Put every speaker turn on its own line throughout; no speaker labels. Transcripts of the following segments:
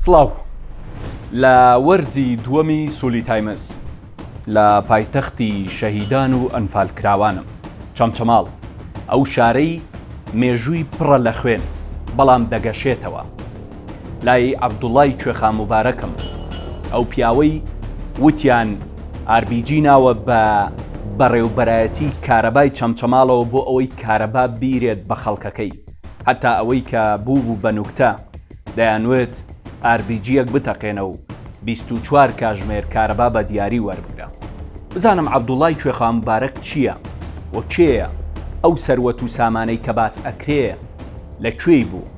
سڵاو لە وەرزی دووەمی سولی تایمز لە پایتەختی شەهیدان و ئەنفالکراوانم چەمچەماڵ ئەو شارەی مێژووی پڕە لە خوێن بەڵام دەگەشێتەوە لای عەبدوڵای کوێخا موبارەکم ئەو پیاوەی وتیان ئاربیجی ناوە بە بەڕێوبەرایەتی کارەبای چەمچەماڵەوە بۆ ئەوەی کارەبا بیرێت بە خەڵکەکەی هەتا ئەوەی کە بوو بوو بە نوکتە دەیانوێت ئاربیجیەک بتەقێنە و 24 کاژمێر کارەبا بە دیاری وەربگرە بزانم عەبدوڵای کوێخا موبارەک چییە و کێیە ئەو سەروەت و سامانەی کە باس ئەکرێ لە کوێی بوو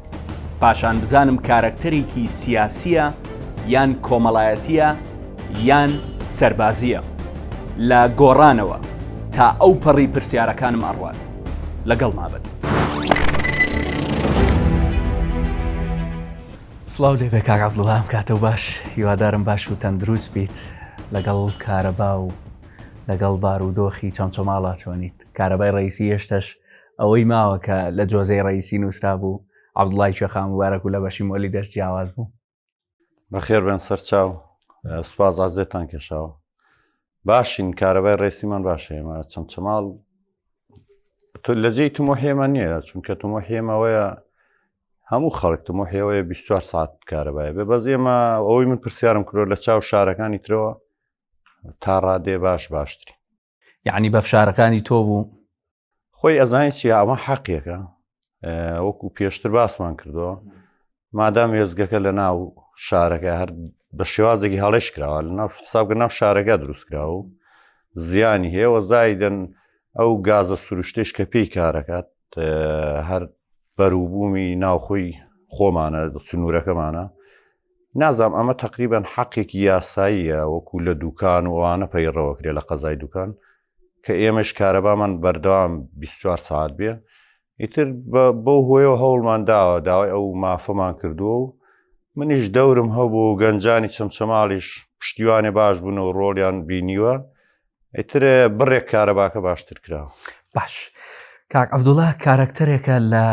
پاشان بزانم کارەکتەرێکی سیاسیە یان کۆمەڵایەتیە یان سەربازیە لە گۆڕانەوە تا ئەو پەڕی پرسیارەکانم ئەڕوات لەگەڵ مابن. سلااو لێ بێ کاگا بڵام کاتە باش هیوادارم باش و تەندروست بیت لەگەڵ کارەبا و لەگەڵ بارودۆخی چەمچەماڵا چۆنیت کارەبای ڕیسی هێشتەش ئەوەی ماوە کە لە جۆزەی ڕئیسی نووسرا بوو عبدڵای کوێخان مبارەک و لە بەشی مۆلی دەست جیاواز بوو بەخێر
بێن سەرچاو سوپاز ئازێتان کێشاوە باشین کارەبای ڕێسیمان باشێمە چەم چەماڵ لە جێی تمۆحێمە نییە چونکە تمۆحێمەوەیە هەموو خەڵک تمۆحێەوەی 24 ساعت کارەبایە بێ بەز ئێمە ئەوەی من پرسیارم کرۆ لە چاو شارەکانی ترەوە تا ڕادێ باش باشتری یعنی بە
فشارەکانی تۆ بوو خۆی
ئەزانانی چی ئەمە حەقیەکە وەکو پێشتر باسمان کردەوە مادام وێزگەکە لە ناو شارەکە هەر بە شێوازێکی هەڵێش کراوە لە ناو حسابکە ناو شارەکە دروستکرا و زیانی هەیەوە زایدن ئەو گازە سروشتش کە پێی کارەکات هەر بەروبوومی ناوخۆی خۆمانە سنوورەکەمانە نازام ئەمە تقریبان حەقێکی یاساییە وەکو لە دوکان وانە پەیڕەوەکرێ لە قەزای دوکان کە ئێمەش کارەبامان بەردەوام 24 ساعت بێ ئیتر بەو هۆیەوە هەوڵمان داوە داوای ئەو مافەمان کردووە و منیش دەورم هەبوو گەنجانی چەمچەماڵیش پشتیوانێ باش بوون و ڕۆڵیان بینیوە ئیتر بڕێک کارەباکە باشتر کرا باش
کاک عبدوڵە کارەکتەرێکە لە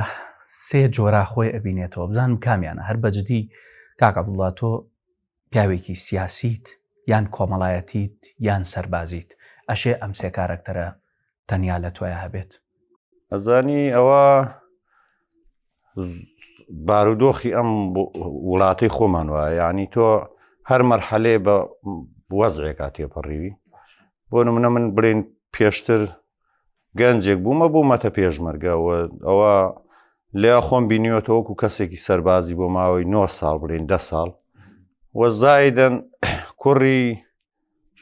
سێ جۆرا خۆی ئەبینێتەوە بزانم کامیانە هەر بەجددی کاک عبدوڵا تۆ پیاوێکی سیاسیت یان کۆمەڵایەتیت یان سەربازیت ئەشێ ئەم سێ کارەکتەرە تەنیا لە تۆیا هەبێت ئەزانی
ئەوە بارودۆخی ئەم وڵاتی خۆمان وایە ینی تۆ هەر مەرحەلێ بە وەزرێکا تێپەڕیوی بۆ منە من بڵێن پێشتر گەنجێک بوومە بوومەتە پێشمەرگەوە ئەوە لێ خۆم بینیوەتەوەکو کەسێکی سەربازی بۆ ماوەی 9 ساڵ بڵێن ده ساڵ وە زایدن کوڕی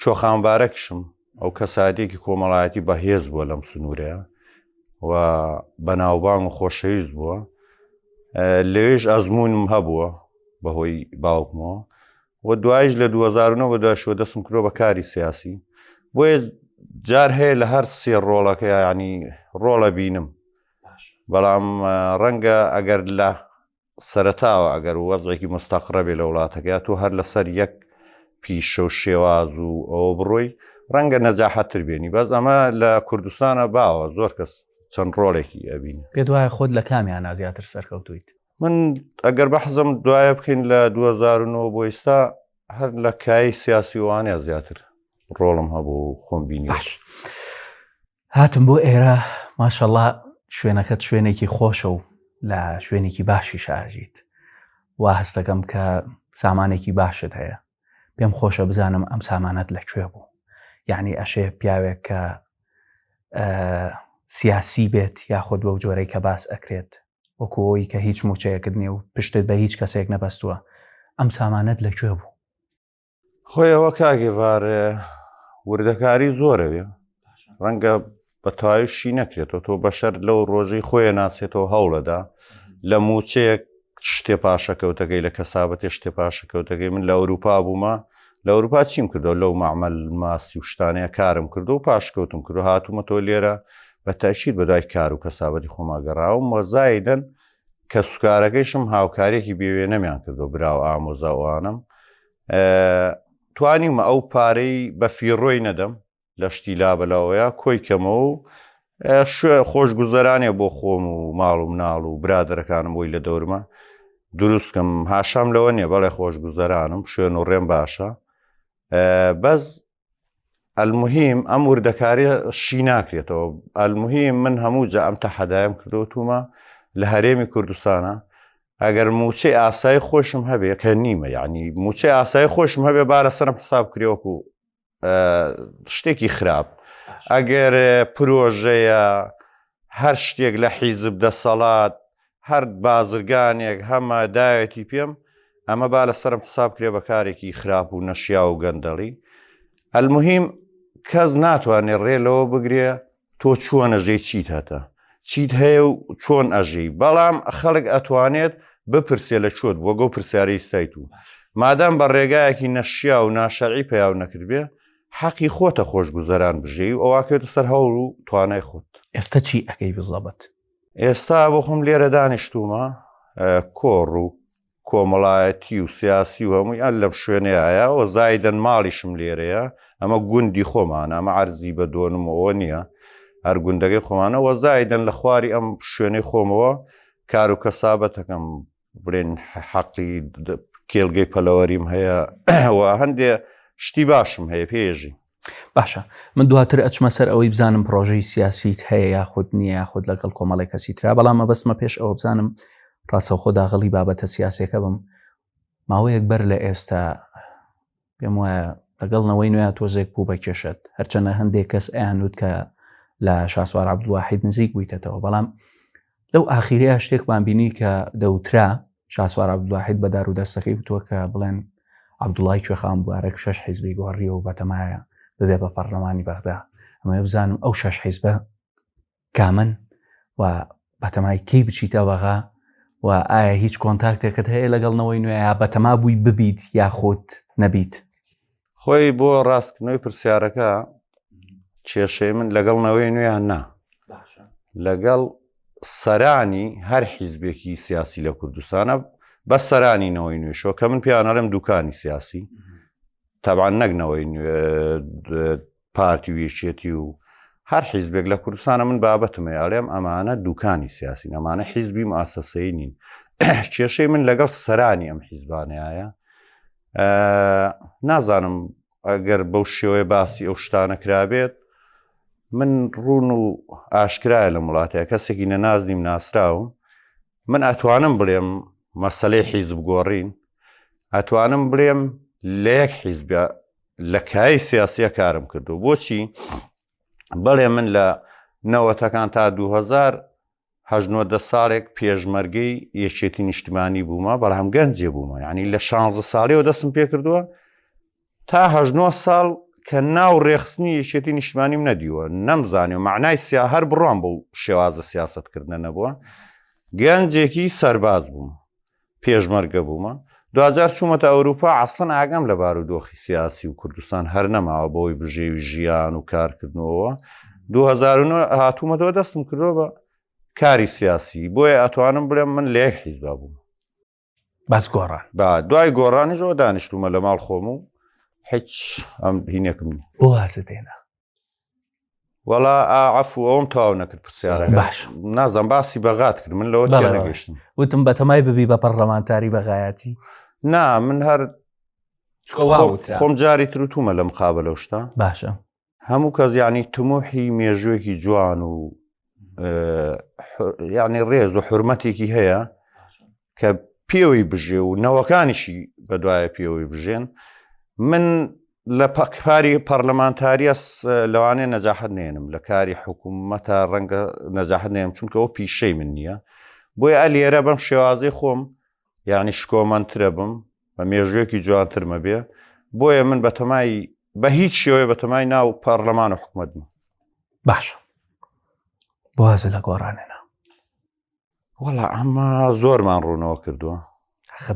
چۆخانبارەکشم ئەو کەساتێکی کۆمەڵایەتی بەهێز بووە لەم سنوورەیە و بەناوبانگ و خۆشەویست بووە لەوێش ئەزمونم هەبووە بەهۆی باوکمەوە و دوایش لە 2009 بە دواشەوە دەستم کرۆ بە کاری سیاسی بۆیە جار هەیە لە هەر سێ ڕۆڵەکە ینی ڕۆڵە بینم بەڵام ڕەنگە ئەگەر لە سەرەتاوە ئەگەر وەزێکی مستەقڕەبێ لە وڵاتەکە تۆ هەر لەسەر یەک پیشە و شێواز و ئەوە بڕۆی ڕەنگە نەجاحەتتر بێنی بەس ئەمە لە کوردستانە باوە زۆر کەس چەند ڕۆڵێکی ئەبین پێ دوایە خۆت لە
کامیان نازیاتر سەرکەوتویت من
ئەگەر بە حەزم دوایە بکەین لە 2009 بۆ ئیستا هەر لە کای سیاسی وانە زیاتر ڕۆڵم هەبوو خۆم بینی
هاتم بۆ ئێرە ماشەڵا شوێنەکەت شوێنێکی خۆشە و لە شوێنێکی باشی شارژیت وا هەستەکەم کە سامانێکی باشت هەیە پێم خۆشە بزانم ئەم سامانەت لەکوێ بوو یعنی ئەشێ پیاوێک کە سیاسی بێت یاخود بەو جۆرەی کە باس ئەکرێت وەکوەوەی کە هیچ موچەیەکت نیە و پشتت بە هیچ کەسێک نەبەستووە ئەم سامانەت لەکوێ بوو خۆی
ئەوە کاگێڤار وردەکاری زۆرەوێ ڕەنگە بە تایشی نەکرێتەوە تۆ بەشەر لەو ڕۆژی خۆیان ناسێتەوە هەوڵەدا لە موچەیەک شتێ پاشەکەوتەکەی لە کەسابەتێ شتێ پاشەکەوتەکەی من لە ئەوروپا بوومە لە ئەوروپا چیم کردو لەو معمل ماسی و شتانەیە کارم کردو و پاشکەوتم کردو هاتوومەتەوە لێرە بە تاشیر بەدای کار و کەسابەتی خۆماگەڕاوم وەزایدن کەسوکارەکەیشم هاوکاریەکی بێوێنەمیان کردو براو ئامۆزاوانم توانیمە ئەو پارەی بە فیڕۆی نەدەم لە شتی لابەلاوەیە کۆی کەمەوە و شوێ خۆش گوزەرانێ بۆ خۆم و ماڵ و مناڵ و برادەرەکانم بۆی لە دەورمە دروستکەم هاشام لەوە نیە بەڵێ خۆش گوزەرانم شوێن و ڕێم باشە بەس ئەلمهیم ئەم وردەکاری شی ناکرێتەوە ئەلمهیم من هەموو جا ئەم تەحەدایم کردوتومە لە هەرێمی کوردستانە ئەگەر موچەی ئاسای خۆشم هەبێ کە نیمە یعنی موچەی ئاسای خۆشم هەبێ با لە سەرم حساب کرێوەک و شتێکی خراپ ئەگەر پرۆژەیە هەر شتێک لە حیزب دەسەڵات هەر بازرگانێک هەمە داوێتی پێم ئەمە با لە سرم حساب کرێ بە کارێکی خراپ و نەشیا و گەندەڵی ئەلمهیم کەس ناتوانێت ڕێ لەوە بگرێ تۆ چووە نەژەی چیت هەتە چیت هەیە و چۆن ئەژی بەڵام خەڵک ئەتوانێت بپرسێ لە چۆت بووە گەو پرسیارەی سایت و مادام بە ڕێگایەکی نەشیا و ناشەعی پیاو نەکردبێ حەقی خۆتە خۆش گوزەران بژێ و ئەوواکێتە سەر هەوڵ و توانای خۆت ئێستا چی ئەەکەی
بزەبەت ئێستا بۆ
خۆم لێرە دانیشتومە کۆڕ و کۆمەڵایەتی و سیاسی و هەمووی ئەل لەم شوێنەیە و زایدن ماڵیشم لێرەیە ئەمە گوندی خۆمان ئەمە عرزی بە دۆنمەوە نییە هەر گوندەکەی خۆمانەوە زایدن لە خواری ئەم شوێنەی خۆمەوە کار و کەسابەتەکەم بڵێن حەقی کێلگەی پەلەوەریم هەیە ئەوە هەندێ شتی باشم هەیە پێژی باشە
من دواتر ئەچمە سەر ئەوەی بزانم پرۆژەی سیاسیت هەیە یاخود نییە یاخود لەگەڵ کۆمەڵی کەسی تررا بەڵام مەبەستمە پێش ئەوە بزانم ڕاستەوخۆ داغڵی بابەتە سیاسەکە بم ماوەیەک بەر لە ئێستا پێم وایە لەگەڵ نەوەی نوێ تۆزێک بوو بە کێشت هەرچەنە هەندێک کەس ئەیانوت کە لە شاسوار عبدواحید نزیک بوویتەوە بەڵام لەو ئاخیرەیە شتێکمان بینی کە دەوترا شاسوار عبدواحید بەدار و دەستەکەی بتووە کە بڵێن عبدوڵای کوێخان بوارێک شش حیزبی گۆڕیەوە بەتەمایە ببێ بە پەرلەمانی بەغدا ئەمە بزانم ئەو شش حیزبە کامن و بەتەمای کەی بچیتە بەغا و ئایا هیچ کۆنتاکتێکت هەیە لەگەڵ نەوەی نوێیا بەتەما بووی ببیت یاخۆت نەبیت خۆی
بۆ ڕاستکردنەوەی پرسیارەکە کێشەی من لەگەڵ نەوەی نوێیان نا لەگەڵ سەرانی هەر حیزبێکی سیاسی لە کوردستانە بە سەرانی نەوەی نوێشەوە کە من پیانەڵم دوکانی سیاسی تابان نەگنەوەی پارتی و یەکێتی و هەر حیزبێک لە کوردستانە من بابەتمە یاڵێم ئەمانە دوکانی سیاسی نەمانە حیزبی ماسەسەی نین کێشەی من لەگەڵ سەرانی ئەم حیزبانەیە نازانم ئەگەر بەو شێوەیە باسی ئەو شتانە کرابێت من ڕون و ئاشکرایە لە وڵاتەیە کەسێکی نەنازنیم ناسراوم من ئەتوانم بڵێم مەسلەی حیزب گۆڕین ئەتوانم بڵێم لە یەک حیزبە لە کای سیاسیە کارم کردو بۆچی بەڵێ من لە نەوەتەکان تا 2000 هەژنۆدە ساڵێک پێشمەرگەی یەکێتی نیشتمانی بوومە بەڵام گەنجێ بوومە ینی لە 16 ساڵیەوە دەستم پێ کردووە تا هەژنۆ ساڵ کە ناو ڕێخستنی یەکێتی نیشتمانیم نەدیوە نەمزانانی و معنای سیا هەر بڕوان بۆ شێوازە سیاستکردنە نەبووە گەنجێکی سەرباز بووم پێشمەرگە بوومە دواجار چوومەتە ئەوروپا ئەسڵن ئاگام لە بار و دۆخی سیاسی و کوردستان هەر نەماوە بەوەی بژێوی ژیان و کارکردنەوە 2009 هاتوومەتەوە دەستم کردەوە بە کاری سیاسی بۆیە ئەتوانم بڵێم من لێک حیزبا بووم بەس
گۆڕان با دوای گۆڕانیشەوە
دانیشتومە لە ماڵ خۆم و هیچ ئەم هینێکم بۆ وازدێنا وەڵا ئاعف و ئەوم تاو نەکرد پرسیارە باش نازم
باسی
بەغات کرد من لەوە نەگەشتم وتم بە تەمای ببی
بە پەرلەمانتاری بەغایەتی نا من
هەر خۆم جاری تروتومە لەم خابە لەو شتا باشە
هەموو کەس
یعنی تموحی مێژوێکی جوان و یعنی ڕێز و حرمەتێکی هەیە کە پێوەی بژێ و نەوەکانیشی بەدوایە پێوەی بژێن من لە پەکپاری پەرلەمانتاریەس لەوانێ نەجاحت نێنم لە کاری حکوومەتە ڕەنگە نەجاحت نێم چونکە ئەو پیشەی من نییە بۆی ئە لێرە بەم شێوازی خۆم یعنی شکۆمەندترە بم بە مێژوێکی جوانترمە بێ بۆیە من بەتەمای بە هیچ شێوەیە بەتەمای ناو پەرلەمان و حکوومەت بم باشە
بازە لە گۆڕانێنا
وەڵا ئەمە زۆرمان ڕوونەوە کردووە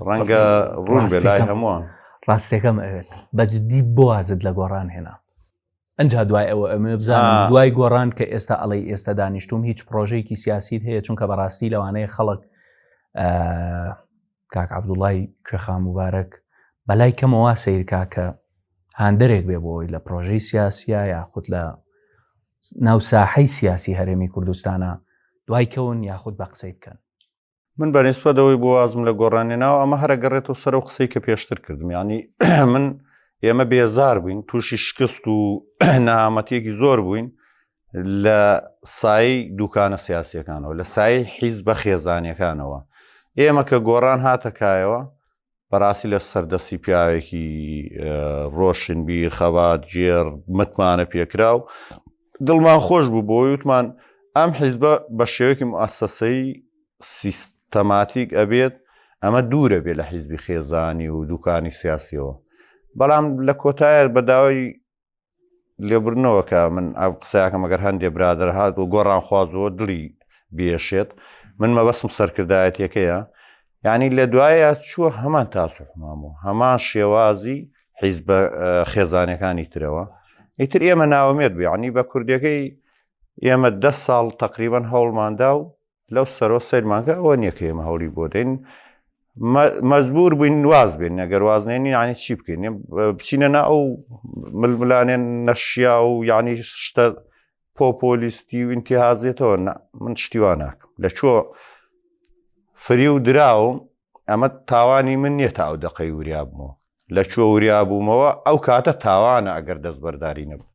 ڕەنگە ڕوون بێ لای هەمووان ڕاستەکەم ئەوێت
بەجددی بۆازت لە گۆڕان هێنا ئەجا دوای ئەوە ئەمە بزانم دوای گۆڕان کە ئێستا ئەڵی ئێستا دانیشتوم هیچ پرۆژێکی سیاسیت هەیە چونکە بەڕاستی لەوانەیە خەڵک کاک عبدوڵای کوێخا مبارەک بەلای کەمەوە سیرکا کە هاندەرێک بێ بۆی لە پرۆژەی سیاسیە یاخود لە ناو ساحەی سیاسی هەرێمی کوردستانە دوای کەون یاخود بە قسەی بکەن من
بەنیسبە دەوەی بۆ وازم لە گۆڕانی ناو ئەمە هەرە گەڕێت و سەر و قسەی کە پێشتر کردم ینی من ئێمە بێزار بووین تووشی شکست و نامەتیەکی زۆر بووین لە سای دوکانە سیاسیەکانەوە لە سای حیز بە خێزانەکانەوە ئێمە کە گۆڕان هاتەکایەوە بەڕاستی لە سەردەسی پیاوێکی ڕۆشنبیر خەبات جێر متمانە پێکرا و دڵمان خۆش بوو بۆ وتمان ئەم حیزبە بە شێوەیەکی مؤسسەی سیستەماتیک ئەبێت ئەمە دوورە بێ لە حیزبی خێزانی و دوکانی سیاسیەوە بەڵام لە کۆتایە بە داوای لێبرنەوە کە من ئەو قسەکەم گەر هەندێ برادر هات و گۆڕان خوازەوە دڵی بێشێت من مەبەستم سەرکردایەتەکەیە یعنی لە دوایە چووە هەمان تاسوحمان بوو هەمان شێوازی حیز بە خێزانەکانی ترەوە ئیتر ئێمە ناومێت بێعنی بە کوردەکەی ئێمە ده ساڵ تقریبان هەوڵماندا و لەو سەرەوە سەیرمان کرد ئەوە نییە کە ئێمە هەوڵی بۆ دەین مەجبور بووین واز بێن نەگەر وازنێنی یعنی چی بکەین بچینە نا ئەو ململانێن نەشیا و یعنی شتە پۆپۆلیستی و ئینتیهازێتەوە من شتیوا ناکەم لە چۆ فری و دراوم ئەمە تاوانی من نییە تا ئەو دەقەی وریابمەوە لە چۆ وریابوومەوە ئەو کاتە تاوانە ئەگەر دەستبەرداری نەبوو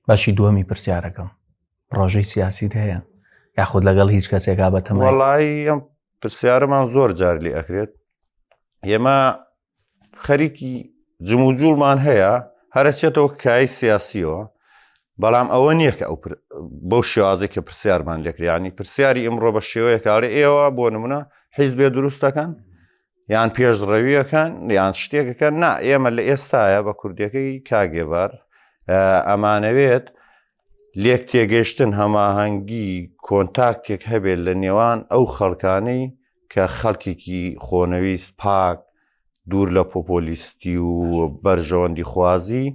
بەشی
دووەمی پرسیارەکەم ڕۆژەی سیاسیت هەیە یاخود لەگەڵ هیچ کەسێکا بە تەمەڵایی ئەم
پرسیارەمان زۆر جار لێ ئەکرێت ئێمە خەریکی جموجوڵمان هەیە هەرچێتەوە کای سیاسیەوە بەڵام ئەوە نییە کە ئەو بەو شێوازی کە پرسیارمان لێکریانی پرسیاری ئەمڕۆ بە شێوەیە کاڵێ ئێوە بۆ نمونە حیزبێ دروستەکەن یان پێشڕەویەکان یان شتێکەکە نا ئێمە لە ئێستاە بە کوردەکەی کاگێڤار ئەمانەوێت لێک تێگەشتن هەماهەنگی کۆنتاکتێک هەبێت لە نێوان ئەو خەڵکانەی کە خەڵکێکی خۆنەویست پاک دوور لە پۆپۆلیستی و بەرژەوەندی خوازی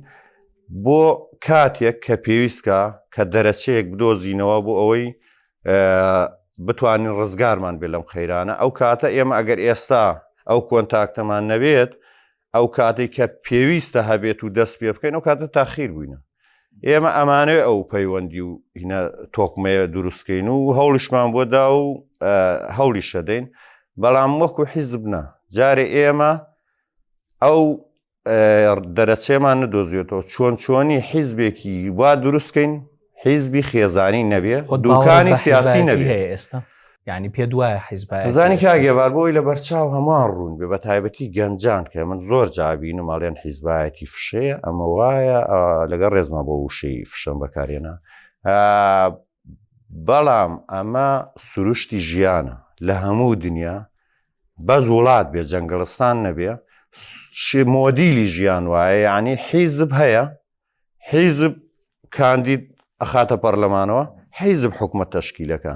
بۆ کاتێک کە پێویستکە کە دەرەچەیەک بدۆزینەوە بۆ ئەوەی بتوانین ڕزگارمان بێ لەم قەیرانە ئەو کاتە ئێمە ئەگەر ئێستا ئەو کۆنتاکتەمان نەبێت ئەو کاتی کە پێویستە هەبێت و دەست پێ بکەین ئەو کاتە تاخیر بووینە ئێمە ئەمانێ ئەو پەیوەندی و هینە تۆکمەیە دروستکەین و هەوڵشمان بۆدا و هەوڵی شەدەین بەڵام وەکو حیزبنا جارێ ئێمە ئەو دەرەچەمان ندۆزیێتەوە چۆن چۆنی حیزبێکی وا دروستکەین حیزبی خێزانی نەبێ دوکانی سیاسی نەبێ ئێستا ینی
پێ دوایە حیزبزانی کاگەێوار بۆی
لە بەرچاو هەمووان ڕوون بێ بە تایبەتی گەنجان کە من زۆر جابین و ماڵێن حیزبایەتی فشەیە ئەمە وایە لەگەڵ ڕێزمە بۆ وشەی فشەم بەکارێنە بەڵام ئەمە سروشتی ژیانە لە هەموو دنیا بەس وڵات بێ جەنگڵستان نەبێ شی مۆدیلی ژیان وایە یعنی حیزب هەیە حیزب کاندید ئەخاتە پەرلەمانەوە حیزب حکومە تەشکیلەکە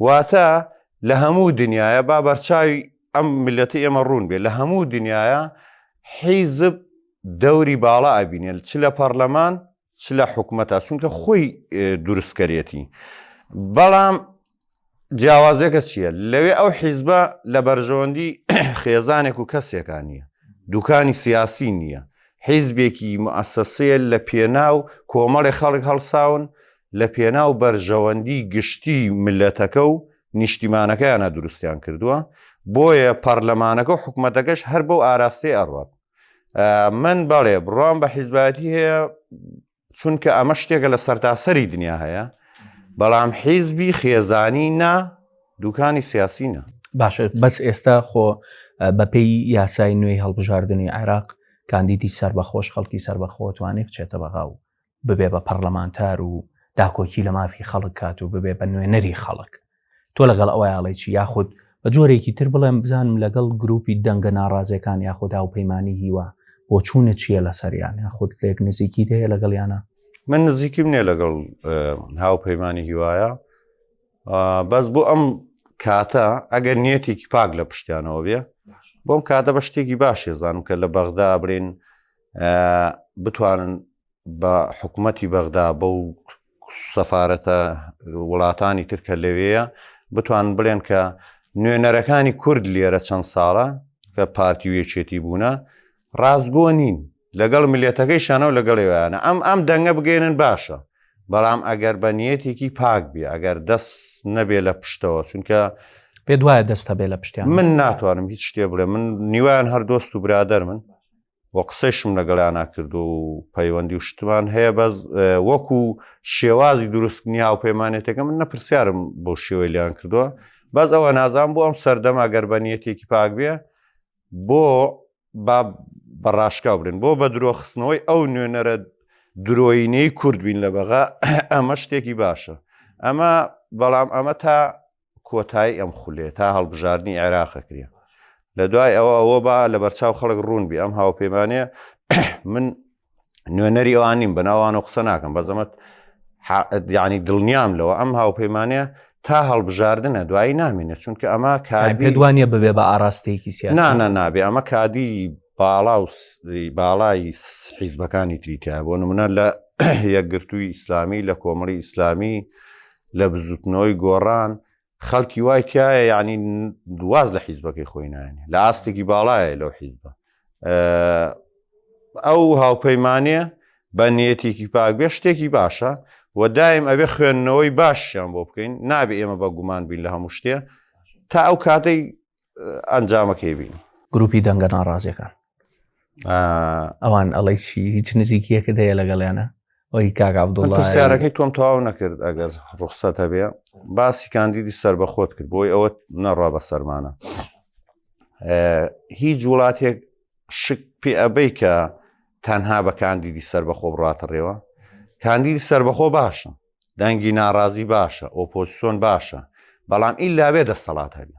واتە لە هەموو دنیاە با بەرچاوی ئەم ملەتی ئێمە ڕوون بێ لە هەموو دنیاە حیزب دەوری باڵا ئەبینێت چ لە پەرلەمان چ لە حکومەتە چونکە خۆی دروستکەرێتی بەڵام جیاوازەکە چییە لەوێ ئەو حیزبە لە بەرژەوەندی خێزانێک و کەسێکان نییە دوکانی سیاسی نییە حیزبێکی مەسەسەیە لە پێناو کۆمەڵی خەڵک هەڵساون لە پێناو بەرژەوەندی گشتی ملەتەکە و نیشتیمانەکەیانە دروستیان کردووە بۆیە پەرلەمانەکە و حکوومەتەکەش هەر بەو ئاراستەی ئەڕات من بەڵێ بڕوام بە حیزباتی هەیە چونکە ئەمە شتێکە لە سەرتاسەری دنیا هەیە بەڵام حیزبی خێزانی نا دوکانی سیاسی نە باشە بەس ئێستا
خۆ بەپی یاسای نوێی هەڵبژاردننی عێراق کاندیدی سەر بەخۆش خەڵکی سەر بەخۆتوانێک چێتە بەغا و ببێ بە پەرلەمانتار و داکۆکی لە مافی خەڵک کات و ببێ بە نوێنەری خەڵک تۆ لەگەڵ ئەوە یاڵی چی یاخود بە جۆرێکی تر بڵێم بزانم لەگەڵ گروپی دەنگە ناڕازەکان یاخدا و پەیمانانی هیوا بۆ چوونە چییە لە سەریان یاخود لێک نزیکی دەیە لەگەڵ یانە من نزیکیم
نیە لەگەڵ هاوپەیمانانی هیوایە بەس بۆ ئەم کاتە ئەگەر نیەتێکی پاک لە پشتیانەوە بێ بۆم کاتە بە شتێکی باشێزانم کە لە بەغدا برین بتوانن بە حکومەتی بەغدا بەو سەفاەتە وڵاتانی تر کە لەوەیە بتوان بڵێن کە نوێنەرەکانی کورد لێرە چەند ساڵە کە پارتی و یەکێتی بوونە ڕاستگۆ نین لەگەڵ ملێتەکەی شانە و لەگەڵ ویانە ئەم ئەم دەنگە بگەێنن باشە بەڵام ئەگەر بە نیەتێکی پاک بێ ئەگەر دەست نەبێ لە پشتەوە چونکە پێ
دوایە دەستە بێ لە پشتیان من ناتوانم هیچ
شتێ بڵێ من نیوان هەر دۆست و برادەر من و قسەیشم لەگەڵیانا کردو و پەیوەندی و شتمان هەیە بەس وەکو شێوازی دروستنی هاوپەیمانێتەکە من نەپرسیارم بۆ شێوەی لیان کردووە بەس ئەوە نازان بۆ ئەم سەردەما گەربەنیەتێکی پاک بێ بۆ با بەڕاشکا بلێن بۆ بە درۆخستنەوەی ئەو نوێنەرە درۆینەی کورد بین لە بەغا ئەمە شتێکی باشە ئەمە بەڵام ئەمە تا کۆتایی ئەم خولێ تا هەڵبژاردنی عێراق ئەکرێ لە دوای ئەوە ئەوە با لە بەرچاو خەڵک ڕوون بێ ئەم هاوپەیمانە من نوێنەری ئەوان نیم بەناوان و قسە ناکەم بەزەمەت یعنی دڵنیام لەوە ئەم هاوپەیمانە تا هەڵبژاردنە دوایی نامینێت چونکە ئەمە کاری دوانە ببێ
بە ئاراستەیەکی سیانە نابێ ئەمە کادی
باڵا و باڵای حیزبەکانی تریتیا بۆ نمونە لە یەکگرتووی ئیسلامی لە کۆمەڵی ئیسلامی لە بزوتنەوەی گۆڕان خەڵکی وای تایە یعنی دواز لە حیزبەکەی خۆی نایێنێ لە ئاستێکی باڵایە لەو حیزبە ئەو هاوپەیمانە بە نیەتێکی پاکبێ شتێکی باشە و دایم ئەبێ خوێندنەوەی باشیان بۆ بکەین نابێ ئێمە بە گومان بین لە هەموو شتێ تا ئەو کاتەی ئەنجامەکەی بینی گروپی دەنگە
ناڕازیەکان ئەوان ئەڵی چی هیچ نزیکیەکە دەیە لەگەڵیانە ئەوی کاک عبدڵسیارەکەی تۆم تەواو
نەکرد ئەگەر ڕوخسەت هەبێ باسی کاندیدی سەر بە خۆت کرد بۆی ئەوە نەڕا بە سەرمانە هیچ وڵاتێک شک پێ ئەبەی کە تەنها بە کاندیدی سەر بەخۆ بڕاتەڕێەوە کاندیدی سەربەخۆ باشە دەنگی ناڕازی باشە ئۆپۆسیۆن باشە بەڵام ئیلاوێ دەسەڵات هەبێ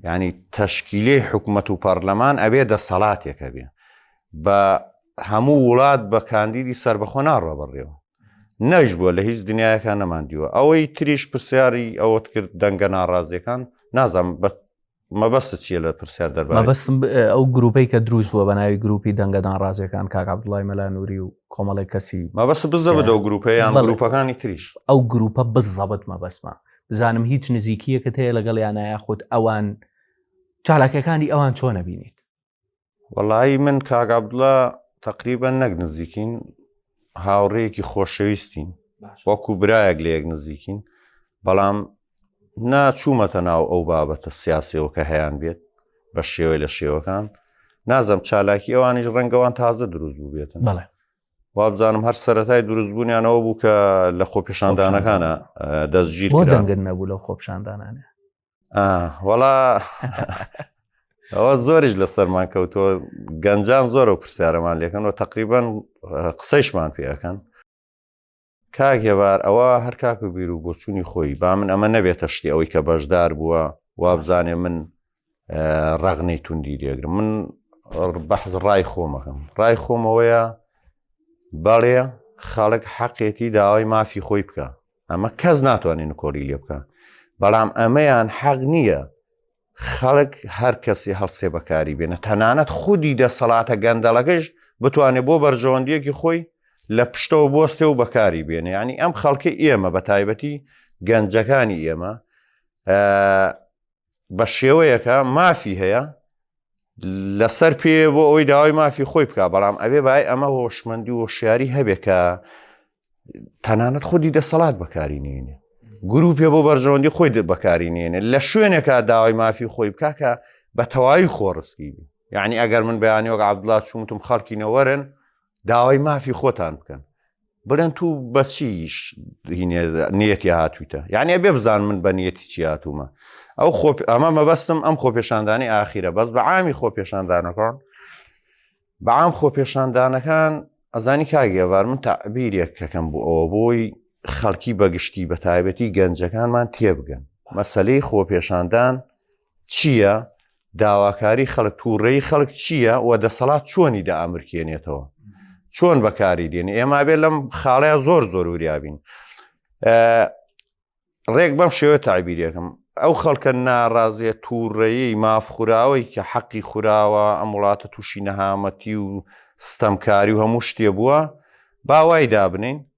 ینی تەشکیلی حکوومەت و پەرلەمان ئەوێ دەسەڵاتێکە بێ بە هەموو وڵات بە کاندیدی سربەخۆ ناڕە بڕێەوە نەش بووە لە هیچ دنیایەکان نەماندیوە ئەوەی تریش پرسیاری ئەوەت کرد دەنگە ناڕازیەکان نازانم بە مەبەست چیە لە پرسیار دەربەستم ئەو
گروپەی کە دروست بووە بە ناوی گروپی دەنگەدان ڕازەکان کاکبدوڵای مەلانوری و کۆمەڵی کەسی مەبەست بزە بە دەو
گروپەیان گروپەکانی تریش ئەو گروپە
بزەبت مەبەستمە بزانم هیچ نزیکیەکە هەیە لەگەڵ یانایە خۆت ئەوان چالاکەکانی ئەوان چۆنە بینیت وەڵایی
من کاگابدڵە تقریبە نەک نزیکین هاوڕێیەکی خۆشەویستین وەکو برایەک لە یەک نزیکین بەڵام ناچوومەتە ناو ئەو بابەتە سیاسەوە کە هەیان بێت بە شێوەی لە شێوەکان نازم چالاکی ئەوانیش ڕەنگەوان تازە دروست بوو بێتن بڵێ
وابزانم
هەر سەتای دروستبوونیانەوە بوو کە لە خۆپیشاندانەکانە دەستگیر بۆ دەنگن نەبوو
لەو خۆپشاندانانە
وەڵا ئەوە زۆریش لەسەرمان کەوتووە گەنجان زۆرە و پرسیارەمان لەکەن و تقریبان قسەیشمان پێەکەن کاک هێوار ئەوە هەر کاک و بیر و بۆچوونی خۆی با من ئەمە نەبێتە شتی ئەوەی کە بەشدار بووە وابزانێ من ڕەغنەی توندی دێگرم من بەحز ڕای خۆمەکەم ڕای خۆمەوەیە بەڵێ خەڵک حەقێتی داوای مافی خۆی بکە ئەمە کەس ناتوانێت نکۆلی لێ بکە بەڵام ئەمەیان حەق نییە خەڵک هەر کەسی هەڵسێ بەکاری بێنە تەنانەت خودی دەسەڵاتە گەندەڵەکەش بتوانێت بۆ بەرژەوەندیەکی خۆی لە پشتەوە بۆستێ و بەکاری بێنێ ینی ئەم خەڵکی ئێمە بە تایبەتی گەنجەکانی ئێمە بە شێوەیەکە مافی هەیە لەسەر پێ بۆ ئەوی داوای مافی خۆی بک بەڵام ئەبێ بای ئەمە هۆشمەندی و شاری هەبێ کە تەنانەت خودی دەسەڵات بەکاری نێنێ گروپێ بۆ بەرژەوەندی خۆی بەکاری نێنێ لە شوێنێکە داوای مافی خۆی بکاکە بە تەواوی خۆڕسکی بی یعنی ئەگەر من بەیانی وەک عبدڵات چونتم خەڵکی نەوەرن داوای مافی خۆتان بکەن برن تو بەچیش نیەتی هاتوویتە یعنی بێ بزان من بە نیەتی چی هاتوومە ئەو خۆ ئەمە مەبەستم ئەم خۆپێشاندانی ئاخیرە بەس بە عامی خۆپێشاندانەکان بەعام خۆپێشاندانەکان ئەزانی کاگێوار من تابیرێک کەکەم بۆ ئەوە بۆی خەڵکی بەگشتی بە تایبەتی گەنجەکانمان تێبگەن مەسلەی خۆپێشاندان چییە، داواکاری خەڵک، تووڕەیی خەڵک چییە و دەسەڵات چۆنی دەئامرکێنێتەوە، چۆن بەکاری دێنێ، ئێمە ئەبێ لەم خاڵەیە زۆر زۆر وریا بین. ڕێک بەم شێوە تابیرێکم ئەو خەڵکە ناڕازێ تووڕەیی مافخوراوەی کە حەقی خوراوە ئەم وڵاتە تووشی نەهامەتی و ستەمکاری و هەموو شتێ بووە باوای دابنین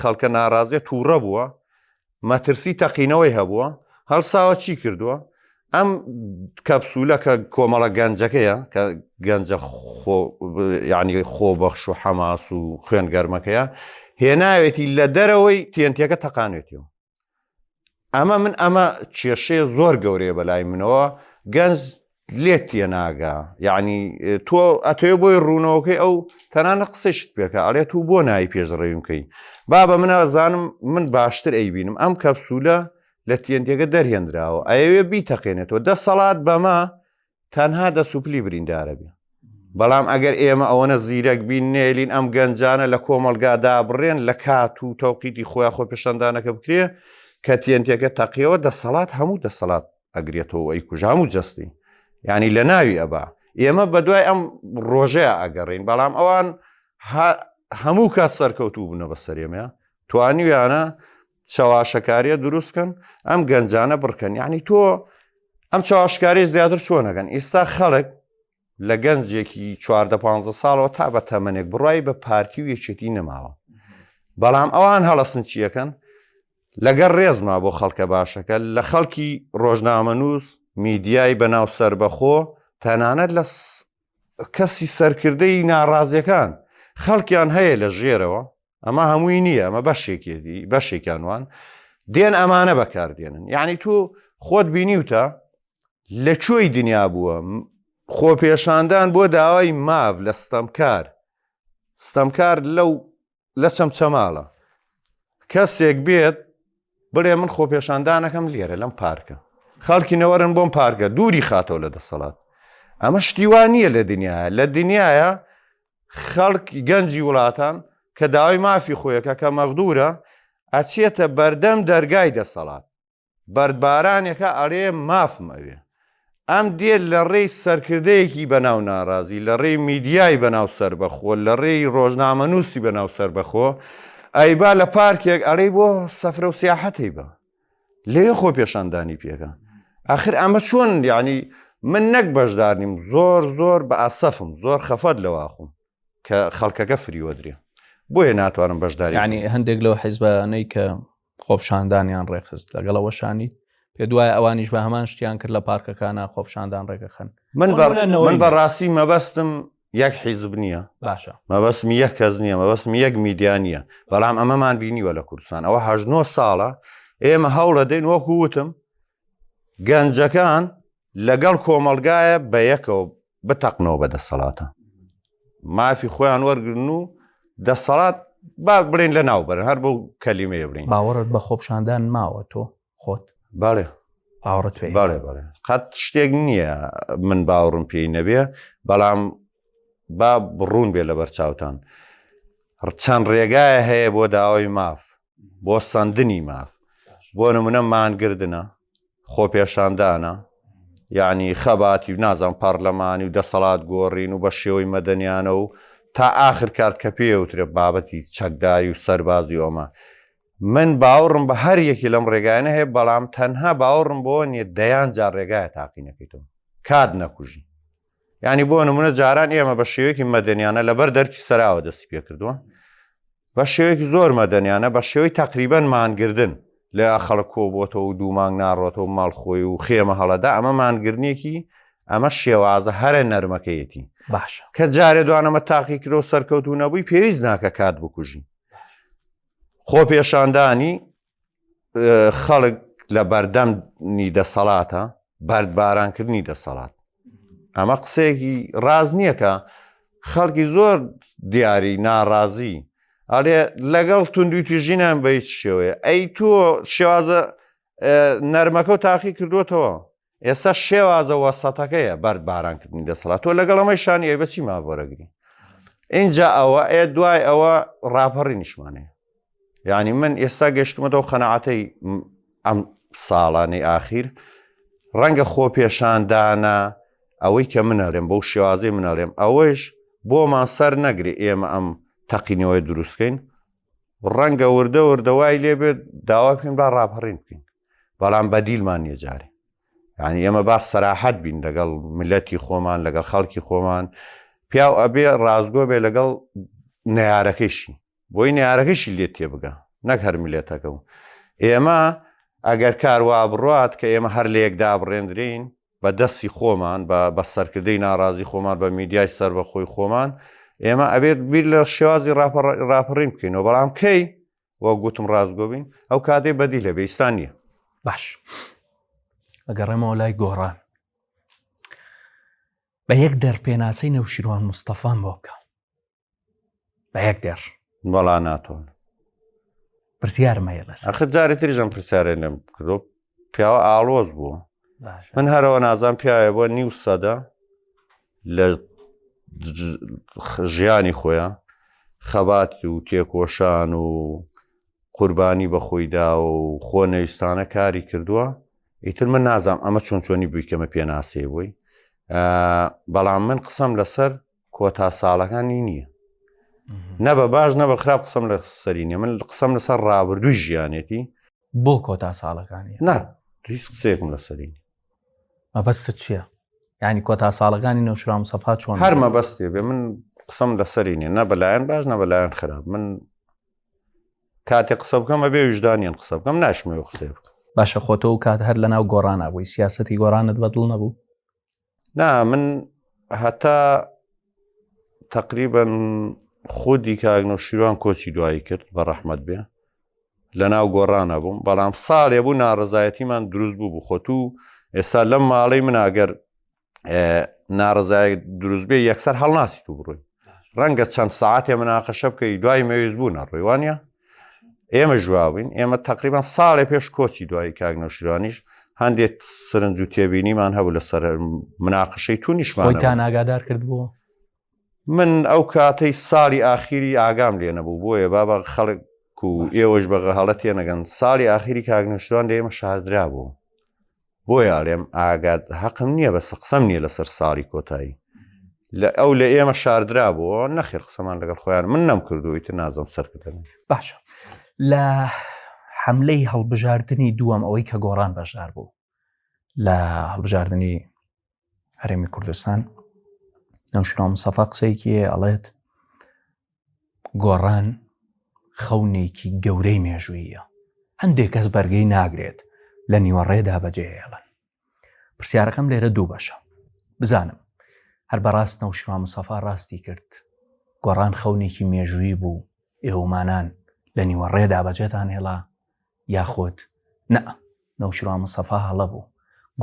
خەڵکە ناڕازیە تووڕە بووە مەترسی تەقینەوەی هەبووە هەڵساوە چی کردووە ئەم کەپسولە کە کۆمەڵە گەنجەکەیە کە گەنجە ینی خۆ بەخش و حەماس و خوێن گەرمەکەیە هێناوێتی لە دەرەوەی تێنتەکە تەقانێتیەوە ئەمە من ئەمە کێشەیە زۆر گەورەیە بەلای منەوە گەنج لێت تێ ناگا یعنی تۆ ئەتێ بۆی ڕوونەوەکەی ئەو تەنانە قسەشت پێکە ئەڵێت و بۆ نای پێشڕێویم بکەین بابە من ئازانم من باشتر ئەیبینم ئەم کەپسولە لە تێنتێگە دەرهێنراوە ئەوێ بیتەقێنێتەوە دەسەڵات بەمە تەنها دە سوپلی بریندارە بێ بەڵام ئەگەر ئێمە ئەوەنە زیرەک بین نێلین ئەم گەنجانە لە کۆمەلگادا بڕێن لە کات و تەوقیتی خۆیان خۆ پێشەندانەکە بکرێ کە تێنتێکە تەقیەوە دەسەڵات هەموو دەسەڵات ئەگرێتەوە ئەی کوژام و جستی ینی لە ناوی ئەبا ئێمە بە دوای ئەم ڕۆژەیە ئەگەڕین بەڵام ئەوان هەموو کات سەرکەوتوو بوونە بە سەرێمە توانیویانە چەواشەکاریە دروستکەن ئەم گەنجانە بڕکەن یعنی تۆ ئەم چاواشکاری زیاتر چۆنەکەن ئیستا خەڵک لە گەنجێکی چواردە پ ساڵەوە تا بە تەمەنێک بڕای بە پارتی و یەکێتی نەماوە بەڵام ئەوان هەڵەسن چیەکەن لەگەر ڕێزما بۆ خەڵکە باشەکە لە خەڵکی ڕۆژنامەنووس میدیای بەناو سربەخۆ تەنانەت لە کەسی سەرکردەی ناڕازیەکان خەڵکیان هەیە لە ژێرەوە ئەمە هەمووی نییە ئەمە بەشێکێتی بەشێکیان وان دێن ئەمانە بەکاردێنن یعنی تۆ خۆت بینیوتە لە کوێی دنیا بووە خۆپێشاندان بۆ داوای ماڤ لە ستەمکار ستەمکار لەو لە چەمچەماڵە کەسێک بێت بڵێ من خۆپێشاندانەکەم لێرە لەم پارکە خەڵکی نەوەرن بۆم پارکە دووری خاتەوە لە دەسەڵات ئەمە شتیوان نییە لە دنیاە لە دنیاە خەڵک گەنجی وڵاتان کە داوای مافی خۆیەکە کە مەغدورە ئەچێتە بەردەم دەرگای دەسەڵات بەردبارانێکە ئەڵێ مافم ئەوێ ئەم دێت لە ڕێی سەرکردەیەکی بەناو ناڕازی لە ڕێی میدیای بەناو سربەخۆ لە ڕێی ڕۆژنامەنووسی بەناو سربەخۆ ئەیبا لە پارکێک ئەڵێ بۆ سەفرە و سیاحەتی بە لێ خۆ پێشاندانی پێەکە ئاخر ئەمە چۆن یعنی من نەک بەشدار نیم زۆر زۆر بە ئاسەفم زۆر خەفەت لەواخم کە خەڵکەکە فریوەدرێ بۆیە ناتوانم بەشداری ینی هەندێک لەو
حیزبانەی کە خۆپشاندانیان ڕێخست لەگەڵ ئەوەشانی پێ دوایە ئەوانیش بە هەمان شتیان کرد لە پارکەکانە خۆپشاندان ڕێگەخەن من من
بەڕاستی مەبەستم یەک حیزب نییە باشە مەبەسم
یەک کەس
نییە مەبەسم یەک میدیا نییە بەڵام ئەمەمان بینیوە لە کوردستان ئەوە هەژنۆ ساڵە ئێمە هەوڵە دەین وەکو وتم گەنجەکان لەگەڵ کۆمەلگایە بە یەکەوە بتەقنەوە بە دەسەڵاتە مافی خۆیان وەرگن و دەسەڵات با بڵێن لە ناو بەرن هەر بەو کەلیمەیە بڵین باوەڕت بە خۆپشاندان
ماوە تۆ خۆت باێ
ئاوڕت پێ
باێ باێ قەت
شتێک نییە من باوڕم پێی نەبێ بەڵام با بڕون بێ لە بەرچاوتان چەند ڕێگایە هەیە بۆ داوای ماف بۆ سندنی ماف بۆ نمونە مانگردە خۆپێشاندانە یعنی خەباتی و نازان پارلەمانی و دەسەڵات گۆڕین و بە شێوەی مەدەنیانە و تا ئاخر کار کە پێوترە بابەتی چەکداری و سەربازی ئۆمە من باوەڕم بە هەر یەکی لەم ڕێگایانە هەیە بەڵام تەنها باوەڕم بۆ نیە دەیان جار ڕێگایە تاقینەکەیتەوە کات نەکوژی ینی بۆ نمونە جاران ئێمە بە شێوەیەکی مەدەنیانە لەبەر دەرکی سەراوە دەستی پێ کردووە بە شێوەیەکی زۆر مەدەنیانە بە شێوەی تقریبەن مانگردن لە خەڵک کۆ بۆتەوە و دوومانگ ناڕۆتەوە ماڵ خۆی و خێمە هەڵەدا ئەمە مانگرنیەکی ئەمە شێوازە هەرە نەرمەکەیەتی باش کە
جارێ دوانەمە
تاقی کرۆ سەرکەوتو نەبووی پێویست ناکە کات بکوژی خۆپێشاندانی خەڵک لە بەردەمنی دەسەڵاتە بەردبارانکردنی دەسەڵات ئەمە قسەیەکی ڕاز نییە کە خەڵکی زۆر دیاری ناڕازی ئەڵێ لەگەڵ توندویتی ژینان بەیت شێوەیە ئەی تۆ شێوازە نەرمەکە و تاقی کردوتەوە ئێستا شێوازە وەسەتەکەیە بەرد بارانکردنی دەسەڵات تۆ لەگەڵ ئەمەی شانی ئەی بەچی ماڤۆرەگری اینجا ئەوە ئێ دوای ئەوە ڕاپەڕی نیشمانەیە یعنی من ئێستا گەشتمەەوە قەنەعاتەی ئەم ساڵانەی ئاخیر ڕەنگە خۆ پێشاندانە ئەوەی کە منەڵێم بەو شێوازی منەڵێم ئەوەش بۆمان سەر نەگری ئێمە ئەم تەقینەوەی دروستکەین ڕەنگە وردە وردەوای لێبێت داوا پێن با ڕاپەڕین بکەین بەڵام بەدیلمان نیە جارێ یعنی ئێمە با سەراحەت بین لەگەڵ ملەتی خۆمان لەگەڵ خەڵکی خۆمان پیاو ئەبێ ڕازگۆ بێ لەگەڵ نەیارەکەشی بۆی نارەکەشی لێ تێ بگە نەک هەر ملێتەکە و ئێمە ئەگەر کاروا بڕات کە ئێمە هەر لە یەکدا بڕێندرین بە دەستی خۆمان بە بە سەرکردەی ناڕازی خۆمان بە میدیای سەر بە خۆی خۆمان ئێمە ئەبێت بیر لە شێوازی راپەڕین بکەینەوە بەڵام کەی وە گوتم ڕاستگۆ بین ئەو کاتێ بەدی لە بێستان نییە باش
ئەگەڕێمەوە لای گۆڕان بە یەک دەر پێناسەی نەوشیروان مستەفان بۆ بکە بە یەک دێڕ بەڵا ناتۆن پرسیارمەیە لەس ئەخ جارێتریژم
پرسیارێنم کردۆ پیاوە ئاڵۆز بوو من هەرەوە نازان پیاوێ بۆ نیو سەدە لە ژیانی خۆیان خەبات و تێکۆشان و قوربانی بە خۆیدا و خۆ نەویستانە کاری کردووە ئیتر من نازانم ئەمە چۆن چۆنی بوویکەمە پێناسەی بووی بەڵام من قسەم لەسەر کۆتا ساڵەکانی نییە نە بە باش نە بە خراپ قسەم لە سەرینە من قسەم لەسەر ڕابردووی ژیانێتی بۆ کۆتا
ساڵەکانی نا هیچ
قسەیەکم لەسەرین مەبەستت
چییە؟ ینی کۆتا ساڵەکانی نەوشرام سەفا چۆن هەر مەبەستێ بێ من
قسەم لەسەری نیە نە بەلایەن باش نە بەلایەن خراپ من کاتێ قسە بکەم ئەبێ وژدانیان قسە بکەم ناشمەوە قسێ بکەم باشە خۆتۆ و کات
هەر لە ناو گۆڕانە بووی سیاستی گۆڕانت بەدڵ نەبوو نا
من هەتا تقریبن خودی کاگنە و شیروان کۆچی دوایی کرد بە ڕەحمد بێ لە ناو گۆڕانە بووم بەڵام ساڵێ بوو ناڕزایەتیمان دروست بوو بخۆتو ئێستا لەم ماڵی مناگەر ناڕزای دروست بێ یەکسەر هەڵناسی تو بڕۆی ڕەنگە چەند ساعتێ مناقەشە بکەی دوای مەویست بوو نەڕێوانە ئێمە ژواوین ئێمە تقریبان ساڵێ پێش کۆچی دوایی کاک نەوشیرانیش هەندێک سرنج و تێبینیمان هەبوو لەسەر مناقشەی تونیشمان تا ناگادار کرد
بوو من
ئەو کاتەی ساڵی ئاخیری ئاگام لێ نەبوو بۆیە بابا خەڵک و ئێوەش بەغە هەڵە تێنەگەن ساڵی ئاخیری کاگنشتوان لە ئێمە شاردرا بوو بۆیە ئەڵێم ئاگات هەقم نییە بەسە قسەم نییە لەسەر ساڵی کۆتایی لە ئەو لە ئێمە شاردرا بۆ نەخێر قسەمان لەگەڵ خۆیان من نەم کردویت نازم سەرکردن باشە
لە حملەی هەڵبژاردننی دووەم ئەوەی کە گۆڕان بەشدار بوو لە هەڵبژاردننی هەرێمی کوردستان نەوشراوم سەفا قسەیەکی ئەڵێت گۆڕان خەونێکی گەورەی مێژوویە هەندێک کەس بەرگەی ناگرێت لە نیوەڕێدا بەجێهێڵن پرسیارەکەم لێرە دوو بەشە بزانم هەر بەڕاست نەوشما مسەفا ڕاستی کرد گۆڕان خەونێکی مێژووی بوو ئێومانان لە نیوەڕێدا بەجێتان هێڵا یاخود نا نەوشیروان مستەفا هەڵە بوو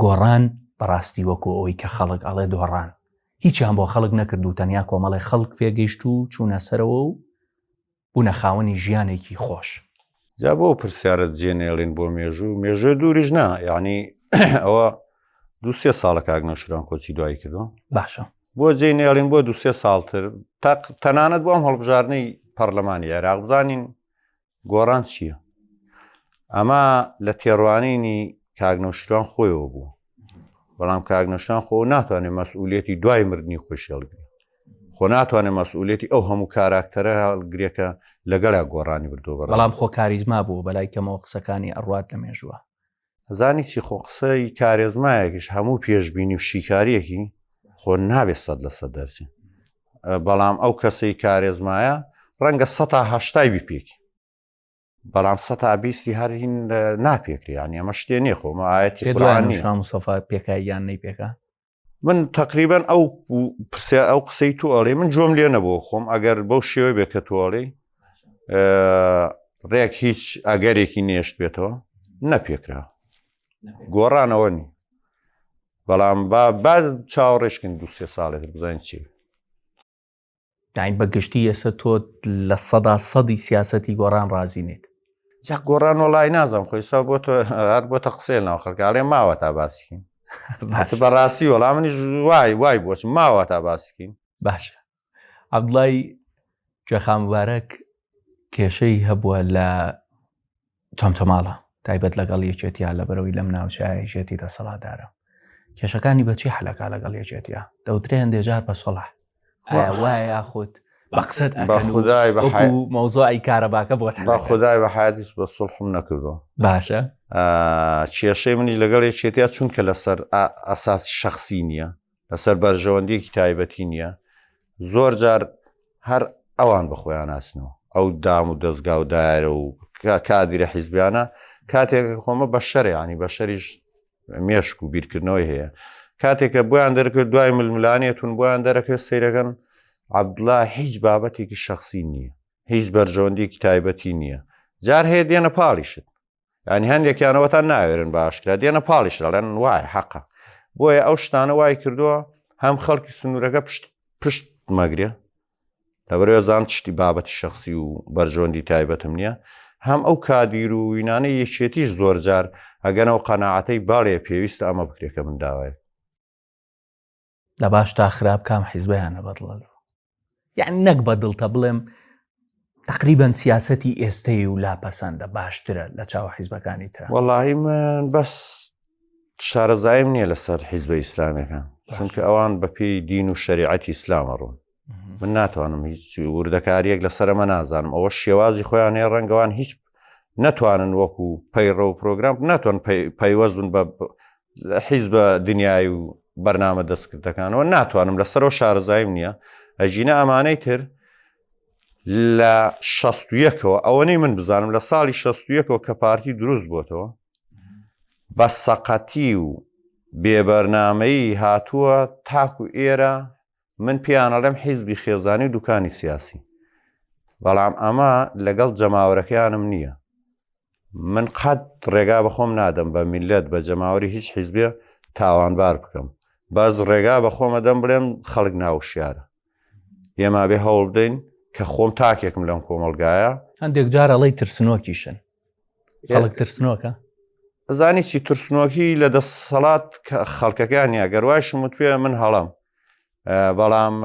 گۆڕان بەڕاستی وەکو ئەوەی کە خەڵک ئەڵێ دۆڕان هیچیان بۆ خەڵک نەکرد و تەنیا کۆمەڵی خەڵک پێگەیشت و چوونە سەرەوە و بوونە خاوەنی ژیانێکی خۆش جا بۆ
پرسیارت جێنێڵین بۆ مێژوو مێژوێ دووریش نا یعنی ئەوە دو سێ ساڵە کاک نەوشران کۆچی دوایی کردو باشە بۆ
جێ نێڵین
بۆ دو سێ ساڵتر تەنانەت بۆم هەڵبژارنەی پەرلەمانی عێراق بزانین گۆڕان چییە؟ ئەمە لە تێڕوانینی کاگنەوشتوان خۆیەوە بوو بەڵام کاگنەشان خۆ ناتوانێت مەسئولێتی دوای مردنی خۆشێڵگری خۆ ناتوانێت مەسئولێتی ئەو هەموو کاراکتەرە هەڵگرێکە لەگەڵا گۆڕانی بردو بەڵام خۆ کاریزما
بوو بەلای کەمەوە قسەکانی ئەڕات لە مێژووە زانی چی
خۆ قسەی کارێزمایەکیش هەموو پێشببینی و شیکاریەکی خۆ نابێت سەد لە سەد دەرچی بەڵام ئەو کەسەی کارێزمایە ڕەنگە سەتا هەشتای بیپێکی بەڵام سەتا بیستی هەرین ناپێکری یان ئەمە شتێ نیە خۆمە ئاەتی قڕانی مستەفا
پێکاییان نەی پێکا من
تقریبان ئەو پرسیا ئەو قسەی تو ئەڵێ من جۆم لێ نەبوو خۆم ئەگەر بەو شێوەی بێ کە تۆڵێ ڕێک هیچ ئەگەرێکی نێشت بێتەوە نەپێکرا گۆڕانەوە نی بەڵام با با چاوەڕێشکن دو سێ ساڵێک بزانین چی
یعنی بە گشتی ئێستا تۆ لە سەدا سەدی سیاسەتی گۆڕان ڕازی نیت جا گۆڕان
وڵی نازم خۆی سا بۆ تۆ هەر بۆ تە قسێ ناو خەکارێ ماوە تا باسکین بەڕاستی وەڵام منی وای وای بۆچ ماوە تا باسکین باشە
عبدڵی جەخامبارەک کێشەی هەبووە لە چەمچەماڵە تایبەت لەگەڵ یەکێتیا لە بەرەوەی لەم ناوچایەکێتی دەسەڵاتدارە کێشەکانی بەچی حلەکە لەگەڵ یەکێتیا دەوترێ هەندێ جار بە سەڵح وایە خۆت بە قسەت
خدای مەوزۆی
کارەباکە بۆ بە خدای بە حادیس
بە سڵحم نەکردو باشە کێشەی منی لەگەڵ یەکێتیا چونکە لەسەر ئاساسی شخصی نییە لەسەر بەرژەوەندیەکی تایبەتی نییە زۆر جار هەر ئەوان بەخۆیان ناسنەوە ئەو دام و دەستگا و دایرە و کادیرە حیزبیانە کاتێک خۆمە بە شەرێ ینی بە شەریش مێشک و بیرکردنەوەی هەیە کاتێکە بۆیان دەرکرد دوای ململانێتون بۆیان دەرەکرد سیرەکەن عبدلا هیچ بابەتێکی شخصی نییە هیچ بەرژەوەندێکی تایبەتی نییە جار هەیە دێنە پاڵیشت ینی هەندێکیانەوەتان ناوێرن باشکرا دێنە پاڵیش دەڵێن وایە حەقە بۆیە ئەو شتانە وای کردووە هەم خەڵکی سنوورەکە پشت پشت مەگرێ لەبەرێزان شتی بابەتی شخصی و بەرژۆندی تایبەتم نییە هەم ئەو کادیر و وینانەی یەکێتیش زۆرجار ئەگەنەوە قەنەعاتەی باڵێ پێویستە ئەمە بکرێکە من داوای
لە باش تا خراپ کام حیزبیانە بەدڵە یعنی نەک بە دڵتە بڵێم تقریبان سیاستی ئێستەی و لاپەسەندە باشترە لە چاوە حیزبەکانی تر وەڵی من
بەس شارەزایم نییە لەسەر حیزبە ئیسلامەکان چونکە ئەوان بەپی دین و شریعەتی ئیسلامە ڕوون من ناتوانم هیچ وردەکاریەک لەسەر ئەمە نازانم ئەوە شێوازی خۆیان هەیە ڕەنگەوان هیچ ناتوانن وەکو پەیڕە و پرۆگرام ناتوان پەیوەستن بە حیز بە دنیای و بەرنامە دەستکردەکانەوە ناتوانم لەسەرەوە شارزایم نییە ئەژینە ئەمانەی تر لە شەستویەکەوە ئەوەنەی من بزانم لە ساڵی شەستویەکەوە کە پارتی دروست بۆتەوە بە سەقەتی و بێبەرنامەی هاتووە تاکو ئێرە من پێیان ئەڵێم حیزبی خێزانی و دوکانی سیاسی بەڵام ئەمە لەگەڵ جەماوەرەکەیانم نییە من قەت ڕێگا بەخۆم نادەم بە میلەت بە جەماوەری هیچ حیزبێ تاوانبار بکەم باز ڕێگا بە خۆمە دەم بڵێم خەڵک ناوشیارە ئێمە بێ هەوڵ بدەین کە خۆم تاکێکم لەم کۆمەلگایە هەندێک جارەڵی
ترسنۆکیشن خەڵک ترسنۆکە زانی
چی ترسنۆکی لە دەسەڵات خەڵکەکان یا گەروای شمت پێ من هەڵم بەڵام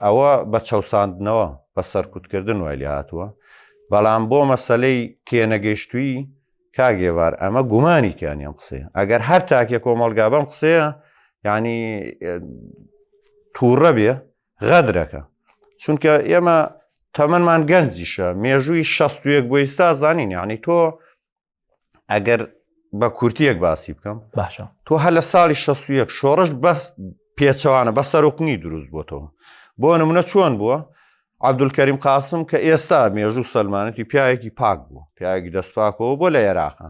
ئەوە بە چەساندنەوە بە سەرکوتکردن وای لێ هاتووە بەڵام بۆ مەسلەی تێنەگەشتوی کاگێوار ئەمە گومانی تیانیان قسێ ئەگەر هەر تاکێ کۆمەلگا بەم قسەیە ینی تووڕە بێ غەدرەکە چونکە ئێمە تەمەمان گەنجیشە مێژووی شەستویەک بۆ ئیستا زانین یعنی تۆ ئەگەر بە کورتیەک باسی بکەم باشە تۆ هە لە
ساڵی
شەستویەک شۆڕش بەس پێچەوانە بە سەرقنی دروست بۆتەوە بۆ نمونە چۆن بووە عبدولکەریم قاسم کە ئێستا مێژوو سلمانەتی پیاەکی پاک بوو پیاەکی دەستپاکەوە بۆ لە عێراقە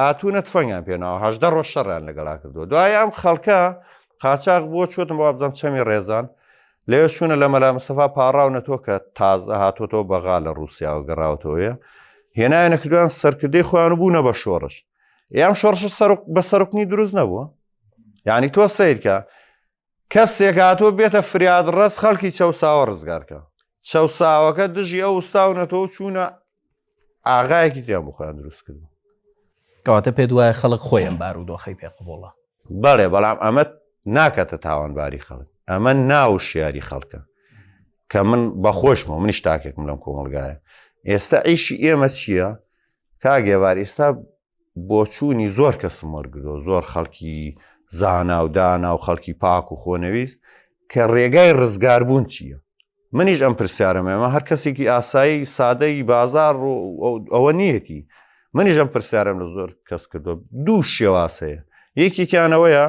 هاتوونە تفەنگیان پێناوە هەشدە ڕۆژ شەڕیان لەگەڵا کردووە دوای ئەم خەڵکە قاچاق بووە چۆتم بۆ بزەم چەمی ڕێزان لەوێ چوونە لە مەلا مستەفا پاڕاونە تۆ کە تازە هاتۆتەوە بەغا لە ڕوسیاوە گەڕاوتەوەە هێنایە نەکردویان سەرکردەی خۆیان بوونە بە شۆڕش یان شۆڕش سەرک بە سەرکنی دروست نەبووە یعنی تۆ سیرکە کەسێک هاتووە بێتە فریاد ڕەس خەڵکی چەساوە ڕزگارکە چەساوەکە دژی ئەو وستاونەتەوە چوونە ئاغایەکی دیان بخۆیان دروست کرد کەواتە
پێ دوایە خەڵک خۆیان بار و دۆخی پێ قوبڵە بەڵێ بەڵام
ئەمە ناکەتە تاوانباری خەڵک ئەمە ناو شیاری خەڵکە کە من بەخۆشمە منیش تاکێکم لەم کۆمەلگایە ئێستا ئیشی ئێمە چییە؟ کاگێوار ئێستا بۆچوونی زۆر کەسم وەرگرۆ زۆر خەڵکی زانا و دانا و خەڵکی پاک و خۆنەویست کە ڕێگای ڕزگاربوون چییە منیش ئەم پرسیارەمەمە هەر کەسێکی ئاسایی سادەی بازار و ئەوە نیەتی منیش ئەم پرسیارم لە زۆر کەس کردو دوو شێواز هەیە یەکێکیانەوەیە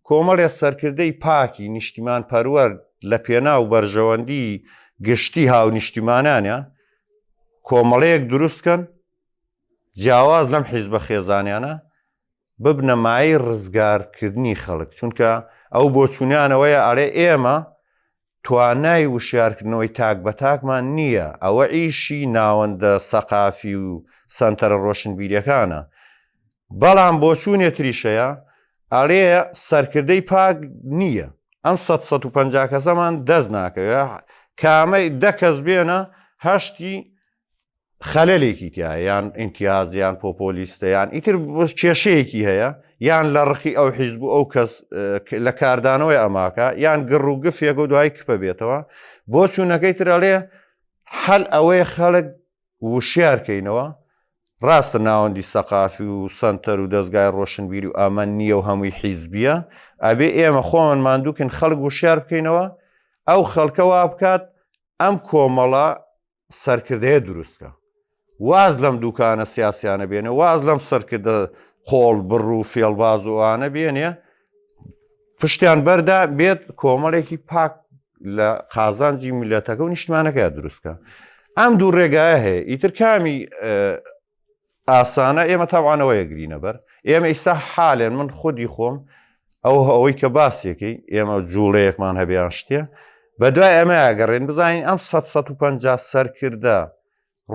کۆمەڵێ سەرکردەی پاکی نیشتیمان پەروەەر لە پێنا و بەرژەوەندی گشتی هاونیشتیمانانە کۆمەڵەیەک دروستکەن جیاواز لەم حیزبە خێزانیانە، ببنە مایەی ڕزگارکردنی خەڵک، چونکە ئەو بۆچوونیان ئەوەیە ئەرێ ئێمە توانای وشیارکردنەوەی تاک بە تاکمان نییە، ئەوە ئیشی ناوەندە سەقافی و سەنتەرە ڕۆشنبیریەکانە، بەڵام بۆچوونێ تریش هەیە ئەرێ سەرکردەی پاک نییە، ئەم سەد سەد و پەنجا کەسەمان دەست ناکەوێ، کامەی دە کەس بێنە هەشتی، خەلەلێکی تیا یان ئینتیاز یان پۆپۆلیستەیان ئیتر کێشەیەکی هەیە یان لە ڕقی ئەو حیزب و ئەو کەس لە کاردانەوەی ئەماکە یان گڕ و گفێک و دوای کپە بێتەوە بۆ چوونەکەی ترەڵێ حەل ئەوەی خەڵک وشارکەینەوە ڕاستە ناوەندی سەقافی و سنتەر و دەستگای ڕۆشنبیری و ئەمە نییە و هەمووی حیزبیە ئەبێ ئێمە خۆمان مادووکن خەڵک وشار بکەینەوە ئەو خەڵکەوا بکات ئەم کۆمەڵە سەرکردەیە دروستکە واز لەم دوکانە سیاسیانە بێنێ واز لەم سەرکردە قۆڵ بڕ و فێڵباز و ئەوانە بێنێ پشتیان بەردا بێت کۆمەڵێکی پاک لە قازانجی میلەتەکە و نیشتمانەکە دروستکە ئەم دوو ڕێگایە هەیە ئیتر کامی ئاسانە ئێمە تاوانەوەیە گرینە بەر ئێمە ئیستا حالێن من خودی خۆم ئەو ئەوەی کە باسیەکەی ئێمە جوڵەیەکمان هەبیان شتێ بە دوای ئەمە ئەگەڕێن بزانین ئەم 150 سەرکردە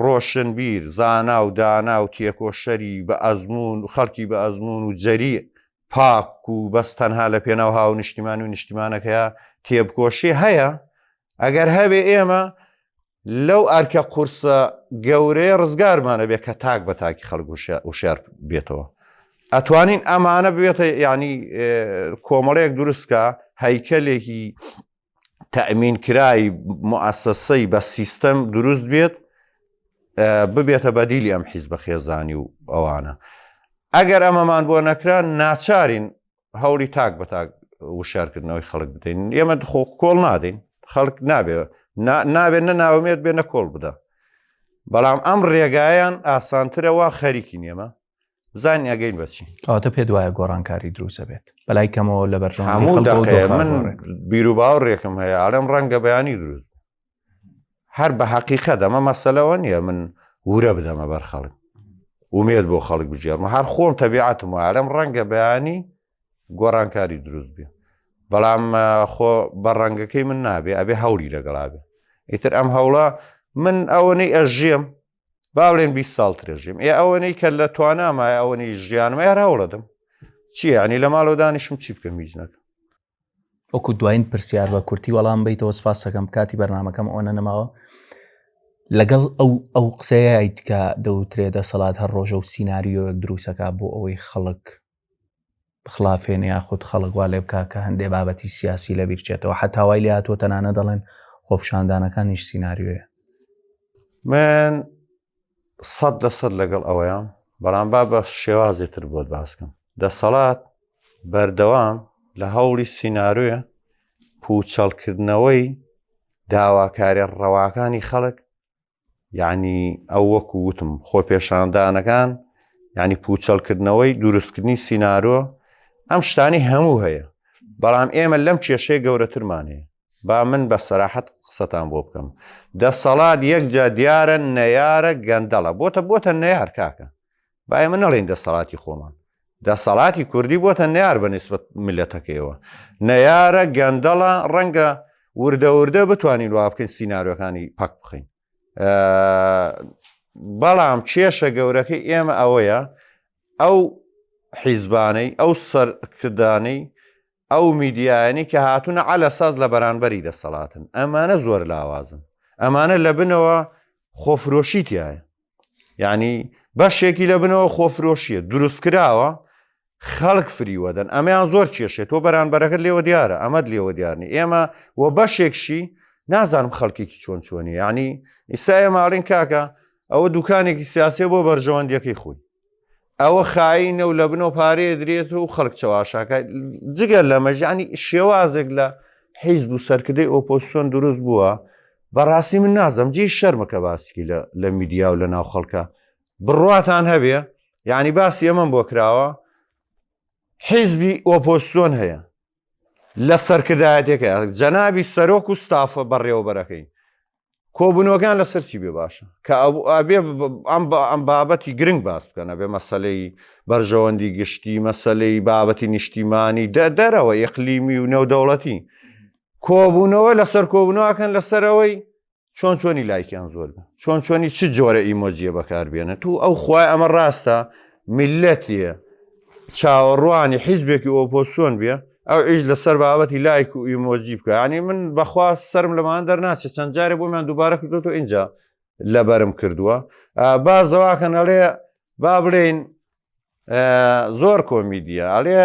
ڕۆشنبیر زانا و دانا و تێکۆشەری بە ئەزمون و خەڵکی بە ئەزمون و جەری پاک و بەس تەنها لە پێناو هاو نیشتیمان و نیشتیمانەکەە تێبکۆشی هەیە ئەگەر هەبێ ئێمە لەو ئەرکە قورسە گەورەیە ڕزگارمانە بێ کە تاک بە تاکی خەڵک وشار بێتەوە ئەتوانین ئەمانە بێتە ینی کۆمەڵەیەک دروستکە هەیکەلێکی تەمین کرای مؤسسەی بە سیستەم دروست بێت ببێتە بەدیلی ئەم حیز بە خێزانی و ئەوانە ئەگەر ئەمەمان بۆ نەکران ناچارین هەوڵی تاک بە تاک وشارکردنەوەی خەڵک بدەین ئێمە خۆ کۆڵ نادەین خەڵک نابێ نابێت نە ناومێت بێ نە کۆڵ بدە بەڵام ئەم ڕێگایان ئاسانترەوە خەریکی نێمە زانانی ئەگەین بەچی ئەوتە پێ دوایە
گۆڕانکاری دروسە بێت بەلای کەمەوە لە بەرژ من
بیرو باو ڕێکم هەیە ئارەم ڕەنگە بەیانی دروست هەر بە حەقیقە دەمە مەسەلەوە نییە من ورە بدەمە بەر خەڵک ومێت بۆ خەڵک بژێرمە هەر خۆم تەبیعاتم وارم ڕەنگە بەیانی گۆڕانکاری دروست بێ بەڵام خۆ بە ڕەنگەکەی من نابێ ئەبێ هەولی لەگەڵا بێ ئیتر ئەم هەوڵە من ئەوەنەی ئەژێم باڵێن 20 ساڵ ترێژیم ئێ ئەوەنەی کە لە توانامای ئەوەنی ژیانمە یار هەوڵەدەم چیانی لە ماڵۆدانیشم چی بکەم هیچ نەکە وەکو
دوایین پرسیار بە کورتی وەڵام بیتەوە سپاسەکەم کاتی بەرنمەکەم ئەوەنە نەماوە لەگەڵ ئەو ئەو قسەیەیت کە دەوترێ دەسەڵات هەر ڕۆژە و سینناریۆیەک دروستەکە بۆ ئەوەی خەڵک بخلافێن یاخود خەڵکوا لێ بک کە هەندێ بابەتی سیاسی لە بیرچێتەوە حتاوای لە هاتووە تەنانە دەڵێن خۆپشاندانەکانیش سینناریۆیە
من سەد لە سەد لەگەڵ ئەوەیان بەڵام با بە شێوازی تر بۆت باسکەم دەسەڵات بەردەوام لە هەوڵی سینناروێ پوچەڵکردنەوەی داواکارە ڕەواکانی خەڵک یعنی ئەو وەکو وتم خۆ پێشاندانەکان ینی پوچەڵکردنەوەی دروستکردنی سینناروە ئەم شتانی هەموو هەیە بەڵام ئێمە لەم کێشەیە گەورەترمانەیە با من بە سەراحەت قسەتان بۆ بکەم دەسەڵات یەکجا دیارە نەیارە گەندەڵە بۆتە بۆتە نەیار کاکە با ئێمە نەڵێن دەسەڵاتی خۆمان دەسەڵاتی کوردی بۆتە نەیار بە نسبت ملەتەکەیەوە نەیارە گەندەڵە ڕەنگە وردە وردە بتوانین وا بکەین سینناارەکانی پاک بخین بەڵام کێشە گەورەکە ئێمە ئەوەیە ئەو حیزبانەی ئەو سەرکردانەی ئەو میدیایانی کە هاتوونە عەلە ساز لە بەرانبەری دەسەڵاتن ئەمانە زۆر لاوازن ئەمانە لە بنەوە خۆفرۆشی تایە یعنی بەشێکی لە بنەوە خۆفرۆشیە دروستکراوە خەڵک فریوەدەن ئەمەیان زۆر کێشێت تۆ بەرانبەرەکەت لێوە دیارە ئەمەد لێوە دیارنی ئێمە و بەشێکشی نازانم خەڵکێکی چۆن چۆنی یعنی ئیستا ئێماڵین کاکە ئەوە دوکانێکی سیاسێ بۆ بەرژەوەندیەکەی خۆی ئەوە خایی نەو لە بنەوە پارەیە درێت و خەڵک چەواشاکە جگەر لە مەژانی شێوازێک لە حیز بوو سەرکردەی ئۆپۆسیۆن دروست بووە بەڕاستی من نازم جی شەرمەکە باسکی لە میدیا و لە ناو خەڵکە بڕاتان هەبێ یعنی باسی ئەمەم بۆ کراوە حیزبی ئۆپۆسیۆن هەیە لە سەرکردایەتەکە جەنابی سەرۆک و ستافە بەڕێوەبەرەکەی کۆبنەوەکان لە سەرچی بێ باشە کە ئەبێ ئەم بە ئەم بابەتی گرنگ باس بکەنە بێ مەسلەی بەرژەوەندی گشتی مەسلەی بابەتی نیشتیمانی دە دەرەوە یقلیمی و نێودەوڵەتی کۆبوونەوە لەسەر کۆبنەوەکەن لەسەرەوەی چۆن چۆنی لایکیان زۆر بە چۆن چۆنی چ جۆرە ئیمۆجیە بەکاربیێنە تو ئەو خوای ئەمە ڕاستە میلەتە چاوەڕوانی حیزبێکی ئۆپۆسیۆن بێ ئەو ئیش لەسەر بابەتی لایک و ئیمۆجی بکەنی من بەخوا سرم لەمان دەرناچێت چەند جارێ بۆمان دووبارە کردوەوە اینجا لەبەرم کردووە با زەواکەن ئەڵێ با بڵێین زۆر کۆمیدیە ئەڵێ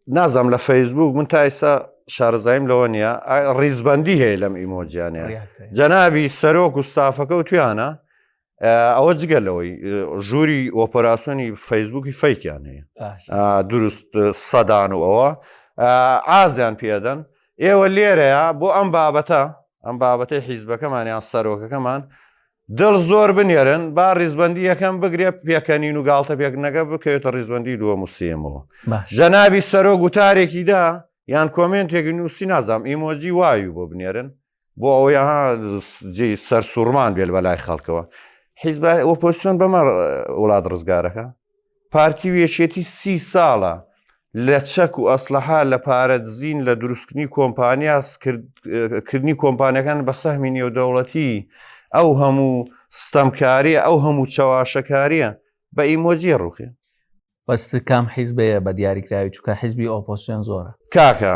نازم لە فەیسبوک من تایسا شارزایم لەوە نیە ڕیزبندی هەیە لەم ئیمۆجیانە جەنابی سەرۆک و ستافەکە و تویانە ئەوە جگە لەوەی ژووری ئۆپەراسسیۆنی فەیسبوکی فەیکیان هەیە دروست سەدان و ئەوە ئازیان پێدەن ئێوە لێرەیە بۆ ئەم بابەتە ئەم بابەتی حیزبەکەمانیان سەرۆکەکەمان دڵ زۆر بنێرن با ڕیزبندی یەکەم بگرێ پێکەنین و گاڵتە پێکردنەکە بکەوێتە ڕیزبندی دووە موسیەمەوە جەنابی سەرۆ گوتارێکی دا یان کۆمنتێکی نووسی نازام ئیمۆجی وایو بۆ بنێرن بۆ ئەوەیە جێ سەر سوورمان بێت بە لای خەڵکەوە حیزب ئۆپۆسیۆن بەمە وڵات ڕزگارەکە پارتی و یەکێتی سی ساڵە لە چەک و ئەسلحە لە پارە دزین لە دروستکردنی کۆمپانیا کردنی کۆمپانیەکان بە سەهمی نێودەوڵەتی ئەو هەموو ستەمکاریە ئەو هەموو چەواشەکاریە بە ئیمۆجیە ڕوخێ بەست
کام حیزبەیە بە دیاریکراوی چکە حیزبی ئۆپۆسیۆن زۆرە کاکە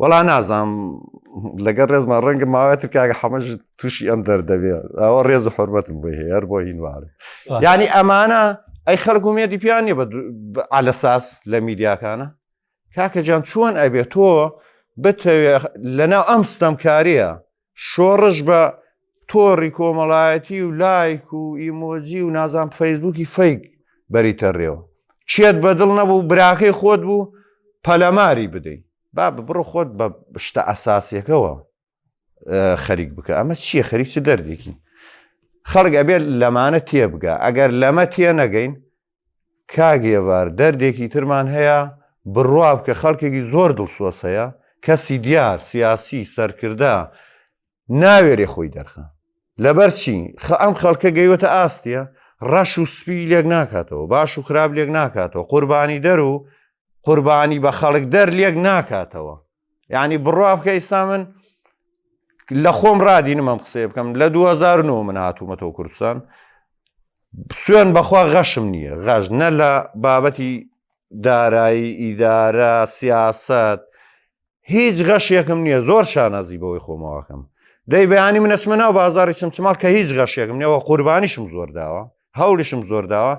وەڵا نازانم لەگەر ڕێزمان ڕەنگە ماوەتر کاگە حەمەش تووشی ئەم دەردەبێ ئەوە ڕێز و حرمەتم بۆ هەیە هەر بۆ هینوار ینی ئەمانە ئەی خەڵک و مێدی پیان نیە ئالەساس لە میدیاکانە کاکە جان چۆن ئەبێت تۆ بتەوێ لەناو ئەم ستەمکاریە شۆڕش بە تۆڕی کۆمەڵایەتی و لایک و ئیمۆجی و نازان فەیسبووکی فەیک بەریتە ڕێەوە چێت بەدڵ نەبوو براخی خۆت بوو پەلەماری بدەیت با ببڕ خۆت بە شتە ئەساسیەکەەوە خەریک بکە ئەمە چییە خەریک چ دەردێکی خەڵک ئەبێت لەمانە تێبگە ئەگەر لەمە تێ نەگەین کاک هێڤار دەردێکی ترمان هەیە بڕوابکە خەڵکێکی زۆر دڵسۆز هەیە کەسی دیار سیاسی سەرکردە ناوێرێ خۆی دەرخە لەبەر چی خە ئەم خەڵکە گەیوەتە ئاستە ڕەش و سپی لێک ناکاتەوە باش و خراپ لێک ناکاتەوە قوربانی دەر و قوربانی بە خەڵک دەر لێک ناکاتەوە یعنی بڕوا بکە ئیستا من لە خۆم ڕادینم ئەم قسەیە بکەم لە 2009 من هاتوومەتەوە کوردستان سوێن بەخوا غەشم نییە غەش نە لە بابەتی دارایی ئیدارە سیاست هیچ غەشێکم نییە زۆر شانازی بەوەی خۆمەوەکەم دەی بەیانی منەچمە ناو بازاری چمچماڵ کە هیچ غەشێکم نەوە قوربانیشم زۆر داوە هەوڵیشم زۆر داوە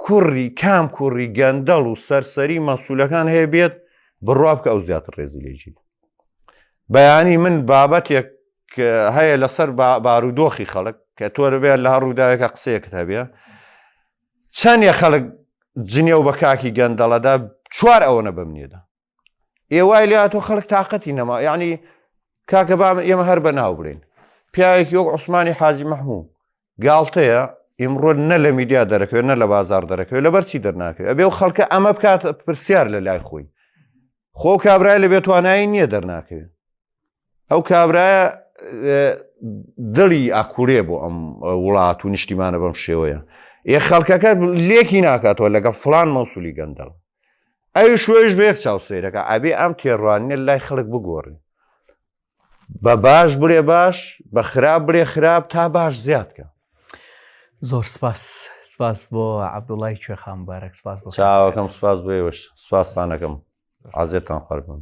کوڕی کام کوڕی گەندەڵ و سەرسەری مەسوولەکان هەیە بێت بڕوا بکە ئەو زیاتر ڕێزی لێژی بەیانی من بابەتێک هەیە لەسەر بارودۆخی خەڵک کە تۆ لەبێت لە ڕووداوێکە قسەیەکت هەبێ چەندێ خەڵک جنێو بە کاکی گەندەڵەدا چوار ئەوەنە بەمنێدا ئێ وای لاتۆ خەڵک تااقەتی نەما یعنی کاکە بام ئێمە هەر بە ناو برین پیاوێکی وەک عوسمانی حاجی مەحموو گاڵتەیە ئیمڕۆ نە لە میدیا دەرەکەوێت نە لە بازار دەرەکەوێت لە بەرچی دەرناکەێت ئەبێ و خەڵکە ئەمە بکات پرسیار لە لای خۆی خۆ کابرای لە بێتوانایی نییە دەرناکەوێت ئەو کابرایە دڵی ئاکوورێ بۆ ئەم وڵات و نیشتیمانە بەم شێوەیە یە خەڵکەکە لێکی ناکاتەوە لەگەڵ فلان مەسولی گەندەڵ ئەوی شوێش بێک چاو سیرەکە ئەبێ ئەم تێڕوانە لای خەڵک بگۆڕی بە باش بڵێ باش بە خراپ بڵێ خراپ تا باش زیادکە
زۆر سپاس سپاس بۆ عبدوڵای کوێخان بارەک سپاس
بۆ چاوەکەم سپاس بۆێوەش سپاسپانەکەم عزێتان قەربم.